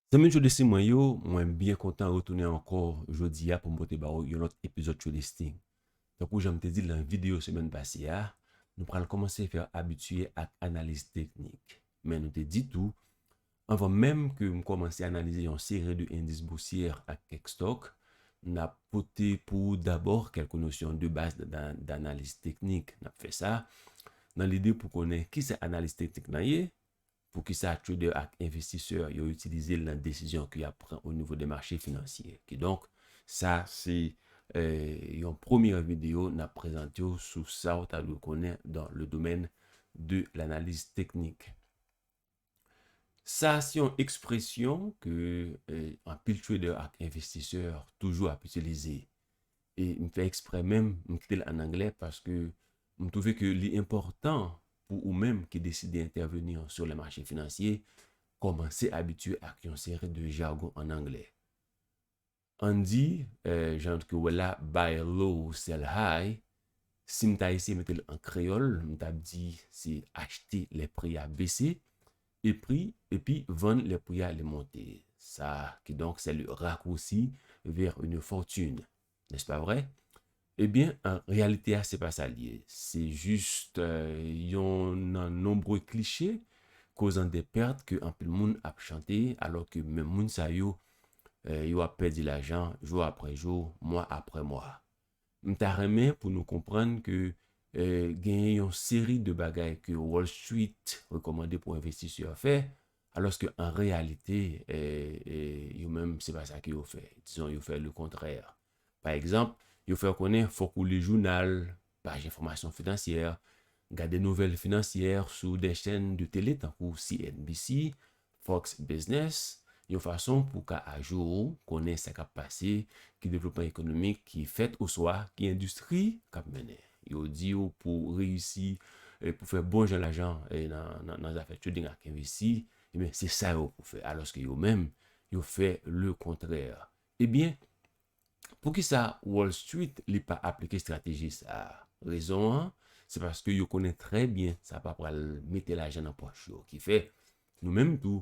Zanmim Tjou Listing mwen yo, mwen byen kontan retounen ankò jodi a pou m pote ba ou yon lòt epizòd Tjou Listing. Tankou jan m te di l nan videyo semèn pase a, nou pral kòmanse fè abitye ak analiz teknik. Men nou te di tou, anvan menm ke m kòmanse analize yon seri de endis bousyè ak kèk stòk, n ap pote pou ou dabò kèlke nosyon de baz danaliz teknik. N ap fè sa nan lide pou konnen kisa analiz teknik lan ye, Poukisa trader ak envestisè yo itilize l nan desizyon ke yap pran o nivo de mache finansye? Kidonk, sa se yon premye video nap prezante w sou sa w ta dwe konnen dan le domèn de lanaliz teknik. Sa se yon ekspresyon ke anpil trader ak envestisè toujou ap itilize. E m fè eksprè menm m kite l an anglè paske M twouve ke li enpòtan pou ou menm ki deside entèveni sou lè mache finansye, kòmanse abitye ak yon seri de jargon an angle. Ann di, jan ke w wè la, buy low, sell high, si m ta eseye mete l an kreyòl, m t ap di se achte lè pri a bese, epi epi vann lè pri a li monte. Sa, kidonk, c'est le raccourci vers une fortune. N'est-ce pas vrai? Ebyen, an reyalite a se pa sa l ye. Se jist yon nan nonbre kliche kozan de pèrt ke anpil moun ap chante alò ke menm moun sa yo, yo ap pèdi lajan jou aprè jou, mwa aprè mwa. M ta renmen pou nou konprann ke genyen yon seri de bagay ke Wall Street rekòmande pou envestisè fè Alòske an reyalite, yo menm se pa sa ke yo fè. Dizon yo fè le kontrè. Pa egzanp, yo fè w konnen fòk ou li jounal, paj enfòmasyon finansyè, gade nouvèl finansyè sou de chèn de tele tankou CNBC, Fox Business, yon fason pou w ka ajou, konnen sa k ap pase, ki devlopman ekonomik ki fèt oswa ki endistri k ap mennen. Yo di w pou w reyisi, pou w fè bon jan lajan nan zafè trading ak envesti, ebyen se sa yo pou w fè. Alòske yo menm, yo fè le kontrè. Ebyen, poukisa Wall Street li pa aplike estrateji sa a? Rezon an, se paske yo konnen trè byen sa pa pral mete lajan nan pòch yo. Ki fè, nou menm tou,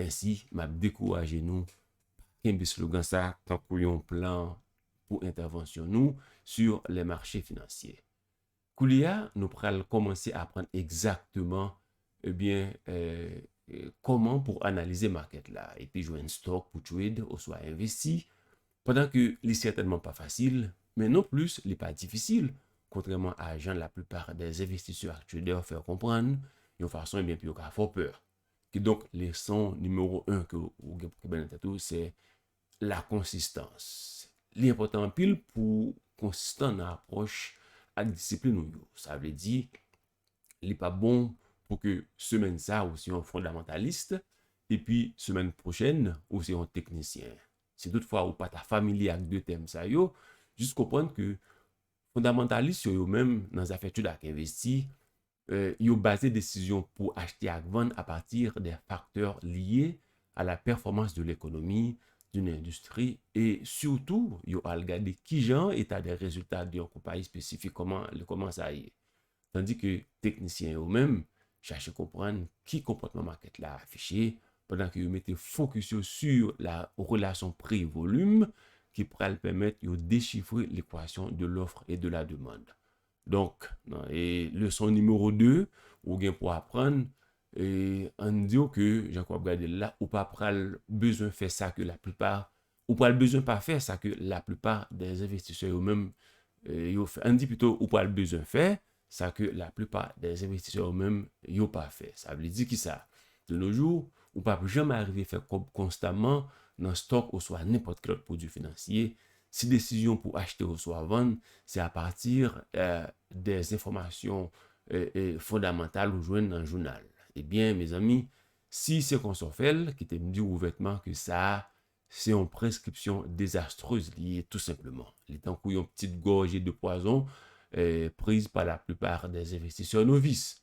Mèsi, m ap dekouraje nou pa kenbe slogan sa tankou yon plan pou entèvansyon nou sur les marchés financiers. Koulye a, nou pral kòmanse aprann egzakteman ebyen kòman pou analize market la epi jwenn stock pou trade oswa envesti pandan ke li sètènman pa fasil men non plis li pa difisil kontrèman a jan la plupart des investisseurs ak traders fè w konprann yon fason ebyen pou yo ka fè w pè. Kidonk, leson nimewo 1 ke ou gen pou kenbe nan tèt ou se la konsistans. Li enpòtan anpil pou ou konsistan nan apwòch ak disiplin ou yo. Sa vle di, li pa bon pou ke semèn sa a ou se yon fondamantalis epi semèn pwochèn ou se yon teknisyen. Si tout fwa ou pa ta familye ak 2 tèm sa yo, jis konprann ke fondamantalis yo yo menm nan zafè etid ak envesti, Yo baze desizyon pou achte ak vann apati de faktè lye a la pèfòmans de lekonomi, doun endistri, e sitou yo al gade kijan eta de rezilta de yon konpayi espesifik, kòman sa ye. Tandi ke teknisyen yo menm chache konprann ki konpòtman makèt la afiche, pandan ke yo mete fokis yo su la relasyon pri volim ki pral pèmèt yo dechifre lekwasyon de lofr e de la demand. Donk, nan leson nimewo 2, ou gen pou aprann, ann di w ke jan ke w ap gade l la, ou pa pral bezwen fè sa ke laplipa, ou pral bezwen pa fè sa ke laplipa dè envestisè yo menm yo fè. Ann di pito ou pral bezwen fè sa ke laplipa dè envestisè yo menm yo pa fè. Sa vle di ki sa? De no jou, ou p ap janm arive fè kòb konstaman nan stòk oswa nenpòt ki lòt pwodui finansye Si desizyon pou achte oswa vann se apati de enfòmasyon fondamantal ou jwenn nan jounal, ebyen mezanmi, si se konsa w fè l, kite m di w ouvètman ke sa a se yon preskripsyon dezastrez li ye tou senpleman. Li tankou yon ptit gòje de pwazon priz pa laplipa de envestisè novis.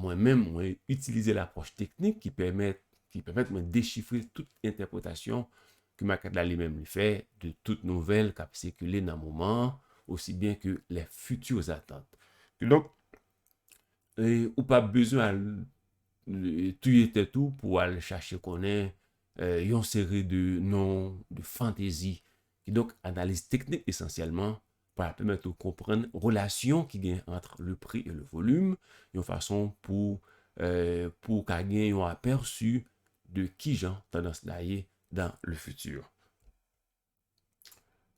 Mwen menm, mwen itilize lapwòch teknik ki pèmèt ki pèmèt mwen dechifre tout entèpretasyon ke makèt la li menm li fè de tout nouvèl k ap sikile nan moman an osi byen ke lè fiti zatant. Kidonk, ou pa bezwen al touye tèt ou pou w al chache konnen yon seri de non, de fantezi. Kidonk, analiz teknik esansyèlman Pou al pèmèt ou konprann relasyon ki gen antre le prix et le volume yon fason pou pou w ka gen yon apèsi de kijan tandans la ye dans le futur.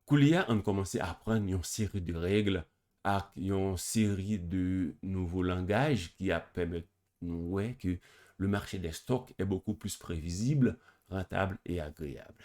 Koulye a, ann kòmanse aprann yon seri de règle ak yon seri de nouvo langaj ki ap pèmèt nou wè ke le marché des stocks est beaucoup plus prévisible, rentable et agréable.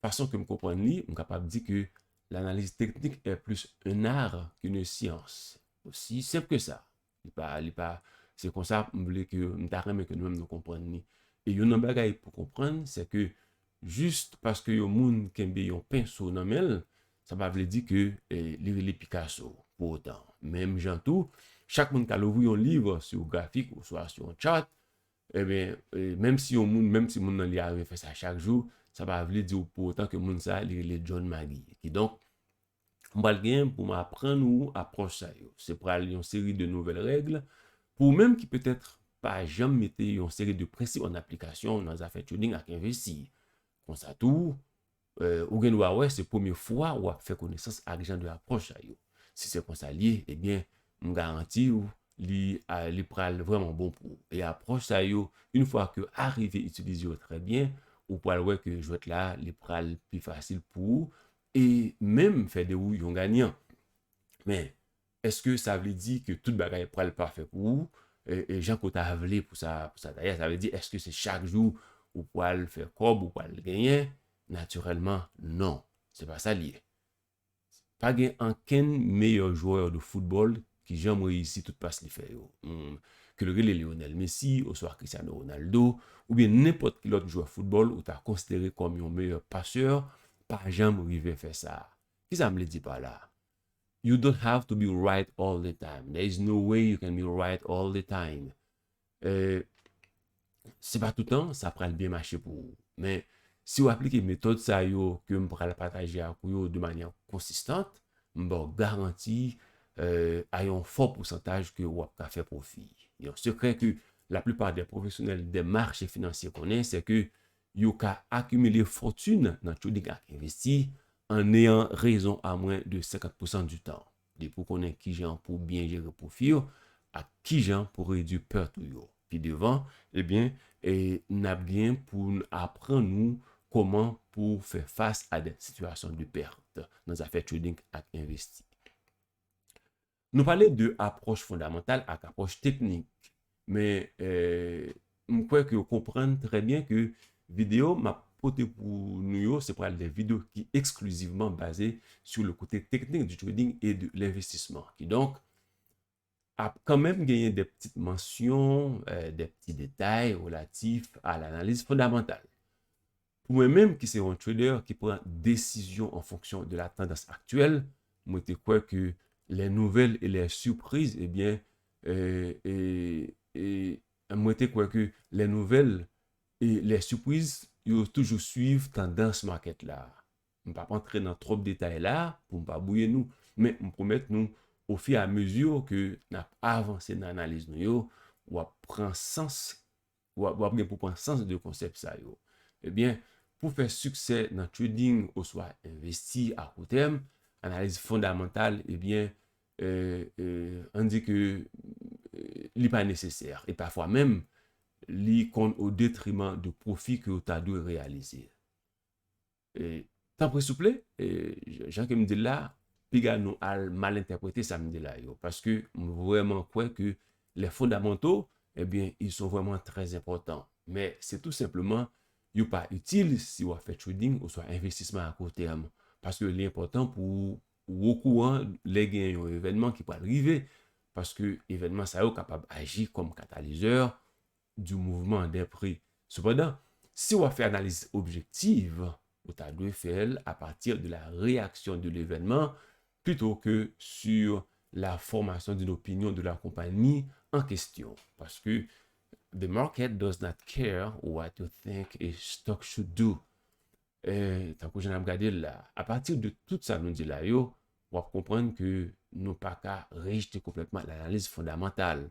Fason ke m konprann li, m kapab di ke l'analyse technique est plus un art qu'une science. Osi senp ke sa. Li pa, li pa, se konsa m vle ke, m ta renmen ke nou menm nou konprann li. E youn nan bagay pou konprann, se ke just paske yon moun kenbe yon penso nan men l, sa pa vle di ke li rele Picasso pou otan. Menm jan tou, chak moun ka louvri yon liv sur graphique oswa sur un chart, Ebyen, menm si yon moun, menm timoun nan li a refè sa chak jou, sa pa vle di pou otan ke moun sa li rele John Magee. Kidonk, m pral gen pou m aprann ou apwòch sa yo. Se pral yon seri de nouvèl règ pou ou menm ki petèt pa janm mete yon seri de prensip an aplikasyon nan zafè trading ak envesti. Konsa tou, Ou gen dwa wè se premye fwa ou ap fè konesans ak jan de apwòch sa yo. Si se konsa l ye, ebyen, m garanti ou li pral vrèman bon pou ou. E apwòch sa yo, yn fwa ke w arive itilize yo trè byen, ou pral wè ke jwèt la li pral pi fasil pou ou e menm fè de ou yon ganyan. Men, Eske sa vle di ke tout bagay pral pafè pou ou jan ke w ta vle pou sa ta ye? Sa vle di eske se chak jou ou pral fè kòb, ou pral genyen? Natirèlman non, se pa sa li ye. Pa gen ankenn meyè jwè de foutbòl ki janm reyisi tout pas li fè yo. Ke l rele Lionel Messi oswa Cristiano Ronaldo oubyen nenpòt ki lòt jwè foutbòl ou ta konsidere kòm yon meyè pasè pa janm rive fè sa. Kisa m vle di pa la? You don't have to be right all the time. There is no way you can be right all the time. Euh, se pa toutan sa pral byen mache pou ou. Men, si ou aplike metòd sa yo ke m pral pataje ak ou yo de manyè konsistant, m ba w garanti euh, a yon fò pousantaj ke ou ap ka fè pwofi. Yon sekrè ke laplipa de pwofesyonèl de mache finansye konnen, se ke yo ka akimile fòtin nan trading ak envesti an neyan rezon a mwen de 50 pousan di tan, depi w konnen kijan pou w byen jere pwofi yo ak kijan pou redwi pèt ou yo. Pi devan, ebyen, n ap gen pou n aprann ou kòman pou w fè fas a dè sitiyasyon de pèt nan zafè trading ak envesti. Nou pale de apwòch fondamantal ak apwòch teknik, men m kwè ke ou konprann trè byen ke videyo m ap pote pou nou yo se pral de videyo ki eksklizivman baze sou le kote teknik du trading et de l'investissement. Kidonk, ap kanmenm genyen de ptit mansyon, de pti detay relatif a l'analyse fondamentale. Pou mwen menm ki se yon trader ki pran desizyon an fonksyon de la tandans aktyèl, mwen te kwè ke lè nouvèl e lè sipriz ebyen e mwen te kwè ke lè nouvèl e lè sipriz yo toujou swiv tandans market la. M pap antre nan twòp detay la pou m pa bwouye nou, men m pwomèt nou o fi a mezi ke nap avanse nan analiz nou yo, wap pran sans W ap gen pou pran sans de konsèp sa yo. Ebyen, pou fè siksè nan trading oswa envesti a kou tèm, analiz fondamantal, ebyen, ann di ke li pa nesesè. E pafwa menm, li konn o detriman de pwofi ke ou ta dwe reyalize. Tanpri souple, jan ke m di l la, piga nou al mal entèprete sa m di la yo. Paske m vrèman kwè ke les fondamentaux, ebyen, ils sont vraiment très importants. Men, se tou senpleman, yo pa itil si w ap fè trading oswa envestisman a court terme. Paske li enpòtan pou ou okouran lè gen yon evènman ki pral rive. Paske evènman sa yo kapab aji kòm katalizè du mouvement des prix. Sepandan, si w ap fè analiz objektiv, ou ta dwe fè l a partir de la réaction de l'événement plutôt que sur la formation d'une opinion de la compagnie en question. Paske the market does not care what you think a stock should do. Tankou jan n ap gade l la a, a partir de tout sa nou di la yo, w ap konprann ke nou pa ka rejte konplètman l'analyse fondamentale.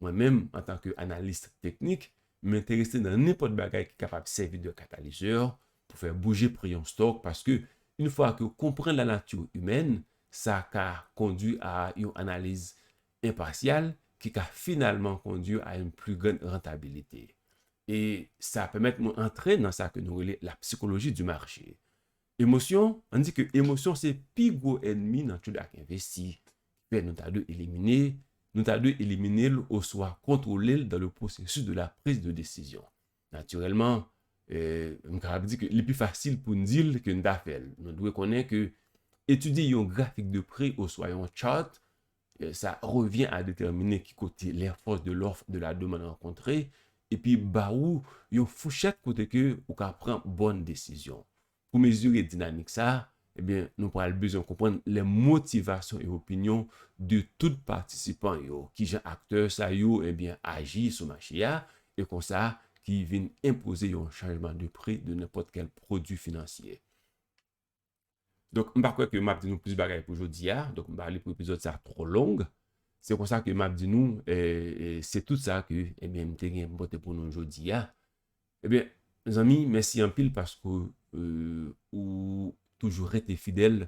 Mwen menm, antanke analis teknik, m enterese nan nenpòt bagay ki kapab sèvi de katalizè pou fè bouje pri yon stock paske yn fwa ke w konprann la nature humaine, sa ka kondwi a yon analiz enpasyal ki ka finalman kondwi a yn pli grand rentabilité. E sa pèmèt mwen antre nan sa ke nou rele la psychologie du marché. Emosyon, ann di ke emosyon se pi gwo ènmi nan tchoul ak envesti, ki fè nou ta dwe elimine, nou ta dwe elimine l oswa kontwole l dan le pwosesis de la priz de desizyon. Natirèlman, m kapab di ke li pi fasil pou n di l ke n ta fè l. Nou dwe konnen ke etidye yon grafik de pri oswa yon chart Sa revyen a detèmine ki kote lè fòs de lòf de la demann rankontre epi ba ou yon fouchèt kote ke ou ka pran bòn desizyon. Pou mezire dinamik sa, ebyen nou pral bezwen konprann lè motivasyon e opinyon de tout patisipan yo, kijan aktè sa yo ebyen aji sou mache a e konsa ki vin enpoze yon chanjman de pri de nenpòt kèl pwodui finansye. Donk m pa kwè ke m ap di nou plis bagay pou jodi a, donk m pa vle pou epizòd sa twò long. Se konsa ke m ap di nou, se tout sa ke m te gen pou m pote pou nou jodi a. Ebyen, mezanmi, mèsi anpil paske ou toujou rete fidèl,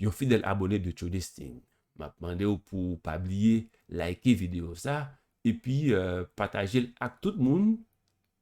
yon fidèl abone de Tchodestin. M ap mande ou pou ou pa bliye like videyo sa, epi pataje l ak tout moun